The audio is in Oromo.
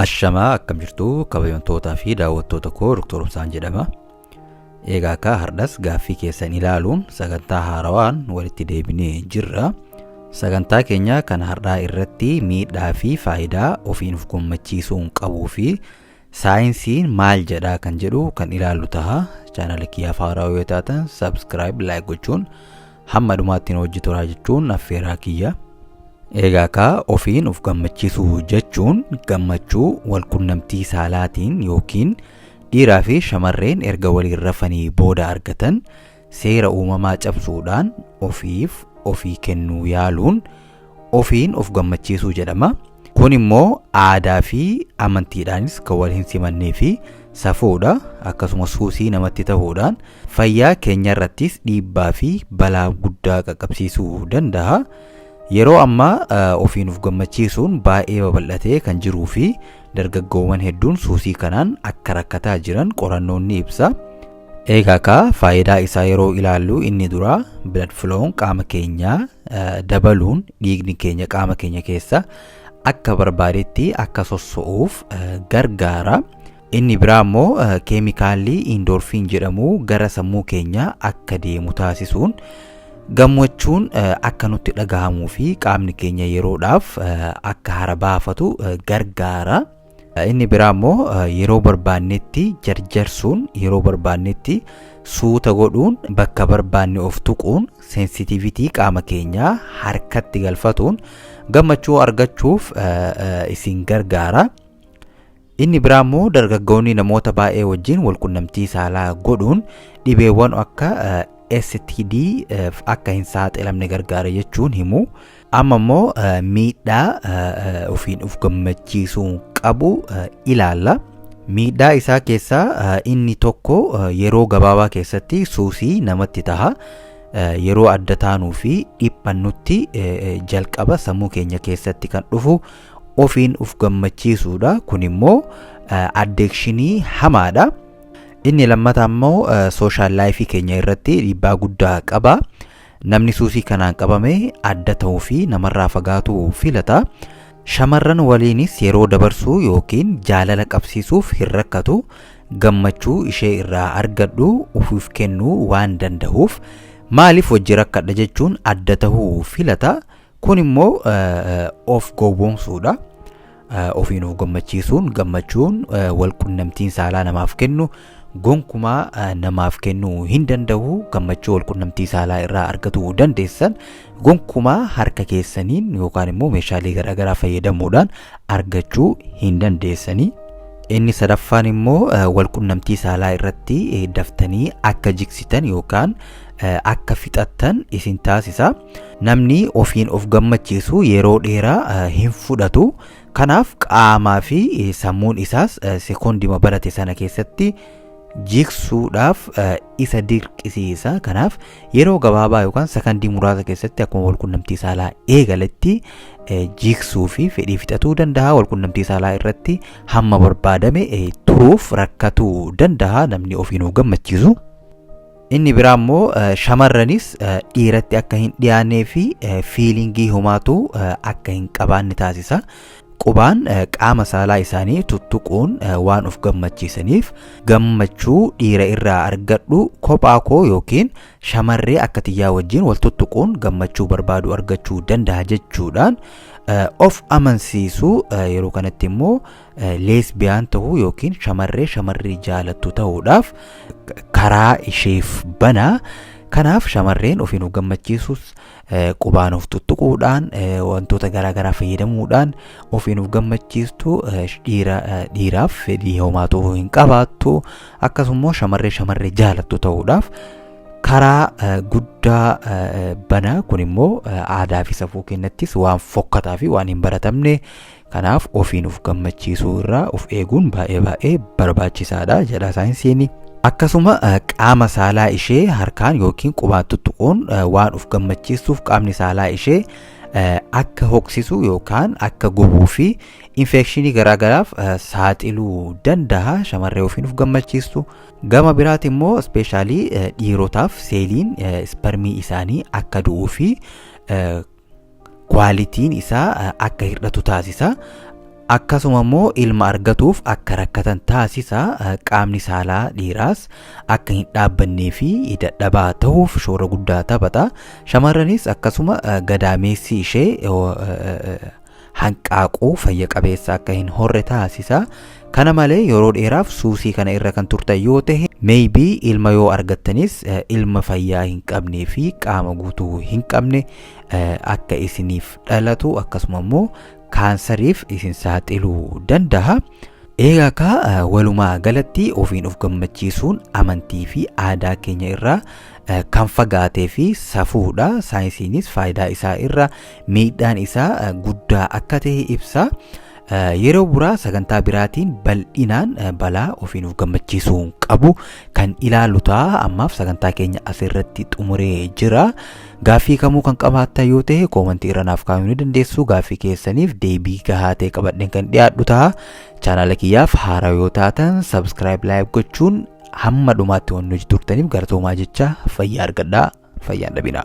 Ashamaa akkam jirtu kabajamtootaa fi daawwattoota koo Dr. Obsaan jedhama. Egaa akka hardhas gaaffii keessan ilaaluun sagantaa haarawaan walitti deebinee jirra. Sagantaa keenya kan hardhaa irratti miidhaa fi faayidaa ofiin of gammachiisuun qabuu fi saayinsiin maal jedhaa kan jedhu kan ilaallu taha chaanala kiyyaaf haaraa yoo taatan sabskiraayib laayik gochuun hamma dhumaattiin hojii turaa jechuun affeeraa kiyya eegaa kaa ofiin of gammachiisuu jechuun gammachuu walqunnamtii saalaatiin yookiin dhiiraa fi shamarreen erga waliin rafanii booda argatan Seera uumamaa cabsuudhaan ofiif ofii kennuu yaaluun ofiin of gammachiisuu jedhama. Kun immoo aadaa fi amantiidhaanis kan wal hin simannee fi safuudha. Akkasumas suusii namatti ta'uudhaan fayyaa keenyarrattis dhiibbaa fi balaa guddaa qaqqabsiisuu danda'a. Yeroo ammaa eh, ofiin of gammachiisuun baay'ee babal'atee kan jiruu fi dargaggoowwan hedduun suusii kanaan akka rakkataa jiran qorannoon ni ibsa. Eegaa kaa faayidaa isaa yeroo ilaallu inni dura blood flow'n qaama keenya dabaluun dhiigni keenya qaama keenya keessa akka barbaadetti akka sosso'uuf gargaara. Inni biraa immoo keemikaalli indoorfiin jedhamu gara sammuu keenya akka deemu taasisuun gammachuun akka nutti dhagahamuu fi qaamni keenya yeroodhaaf akka hara baafatu gargaara. Inni biraa immoo yeroo barbaannetti jarjarsuun yeroo barbaannetti suuta godhuun bakka barbaanne of tuquun seensitivitii qaama keenyaa harkatti galfatuun gammachuu argachuuf isin gargaara. Inni biraa immoo dargaggoonni namoota baay'ee wajjin walqunnamtii saalaa godhuun dhibeewwan akka STD akka hin saaxilamne gargaara jechuun himu. Amma immoo miidhaa ofiin of gammachiisuun qabu ilaalla. Miidhaa isaa keessaa inni tokko yeroo gabaabaa keessatti suusii namatti taha. Yeroo adda taanuu fi dhiphannutti jalqaba sammuu keenya keessatti kan dhufu ofiin of gammachiisuudha. Kun immoo addeekshinii hamaadha. Inni lammataa immoo sooshaal laayifii keenya irratti dhiibbaa guddaa qaba. Namni suusii kanaan qabame adda ta'uu fi namarraa fagaatuu filata. Shamarran waliinis yeroo dabarsuu yookiin jaalala qabsiisuuf hin rakkatu. Gammachuu ishee irraa argadhu ufuuf kennuu waan dandahuuf maaliif wajji rakkadha jechuun adda ta'uu filata. Kun immoo of gowwoomsuudha. Ofiin of gammachiisuun gammachuun wal qunnamtiin saalaa namaaf kennu gonkumaa namaaf kennuu hin danda'u. Gammachuu wal qunnamtii saalaa irraa argatuu dandeessan gonkumaa harka keessaniin yookaan immoo meeshaalee garaagaraa fayyadamuudhaan argachuu hin dandeessanii. Inni sadaffaan immoo wal qunnamtii saalaa irratti daftanii akka jiksitan yookaan akka fixattan isin taasisa. Namni ofiin of gammachiisu yeroo dheeraa eh, hin fudhatu. Kanaaf qaamaa fi eh, sammuun isaas eh, sekoondima barate sana keessatti jigsuudhaaf eh, isa dirqisiisa. Kanaaf yeroo gabaabaa yookaan sakandii muraasa keessatti akkuma walqunnamtii saalaa eegaletti eh, jigsuu fi fedhii fixatuu danda'a. Walqunnamtii saalaa irratti hamma barbaadame eh, turuuf rakkatuu danda'a namni ofiin of gammachiisu. Inni biraa immoo shamarranis dhiiratti akka hin dhiyaannee fi fiilingii homaatu akka hin qabaanne taasisa. Qubaan qaama saalaa isaanii tuttuquun waan of gammachiisaniif gammachuu dhiira irraa argadhu kophaa koo yookiin shamarree akka tiyyaa wajjin wal tuttuquun gammachuu barbaadu argachuu danda'a jechuudhaan of amansiisu yeroo kanatti immoo leesbiyaan ta'uu yookiin shamarree shamarrii jaalattu ta'uudhaaf karaa isheef bana. Kanaaf shamarreen ofiin of gammachiisuus qubaan of tuttuquudhaan wantoota garaagaraa fayyadamuudhaan ofiin of gammachiistu dhiiraaf fedhii homaa ta'uu hin qabaattu akkasumas shamarree shamarree jaalattu ta'uudhaaf karaa guddaa bana kun immoo aadaa fi safuu keenyattis waan fokkataa fi waan hin baratamne Kanaaf ofiin of gammachiisuu irraa of eeguun baay'ee baay'ee barbaachisaadha jedha saayinsiin. Akkasuma qaama saalaa ishee harkaan yookiin qubaan tuttuquun waan of gammachiistuuf qaamni saalaa ishee akka hoksisu yookaan akka gubuu fi infeekshinii garaagaraaf saaxiluu danda'a shamarree ofiin of gammachiistu. Gama biraati immoo ispeeshaalii dhiirotaaf seeliin isparmii isaanii akka du'uu fi kwaalitiin isaa akka hir'atu taasisa. Akkasuma immoo ilma argatuuf akka rakkatan taasisa. Qaamni saalaa dhiiraas akka hin dhaabbannee fi dadhabaa ta'uuf shoora guddaa taphata. Shamarranis akkasuma gadaameessi ishee hanqaaquu fayya qabeessa akka hin horre taasisa. Kana malee yeroo dheeraaf suusii kana irra kan turtan yoo ta'e maybe ilma yoo argattanis eh, ilma fayyaa hin qabnee fi qaama guutuu hin qabne eh, akka isiniif dhalatu akkasuma immoo kaansariif isin saaxiluu danda'a. Egaa kaa eh, walumaa galatti ofiin of gammachiisuun amantii fi aadaa keenya irraa eh, kan fagaatee fi safuudha. Saayinsiinis faayidaa isaa irra miidhaan isaa eh, guddaa akka ta'e ibsa. Eh, Yeroo buraa sagantaa biraatiin bal'inaan eh, balaa ofii nuuf gammachiisuu hin qabu kan ilaalu ta'a. Ammaaf sagantaa keenya asirratti xumuree jira. Gaaffii kamuu kan qabaattan yoo ta'e koomantii irra naaf kaa'uu ni dandeessu. Gaaffii keessaniif deebii gahaa ta'e qabadheen kan dhiyaadhu ta'a. Chaanaala kiyyaaf haaraa yoo taatan subscribe like gochuun hamma dhumaatti waan nuti turtaniif galatoomaa jechaa fayyaa argadhaa fayyaan dhabinaa.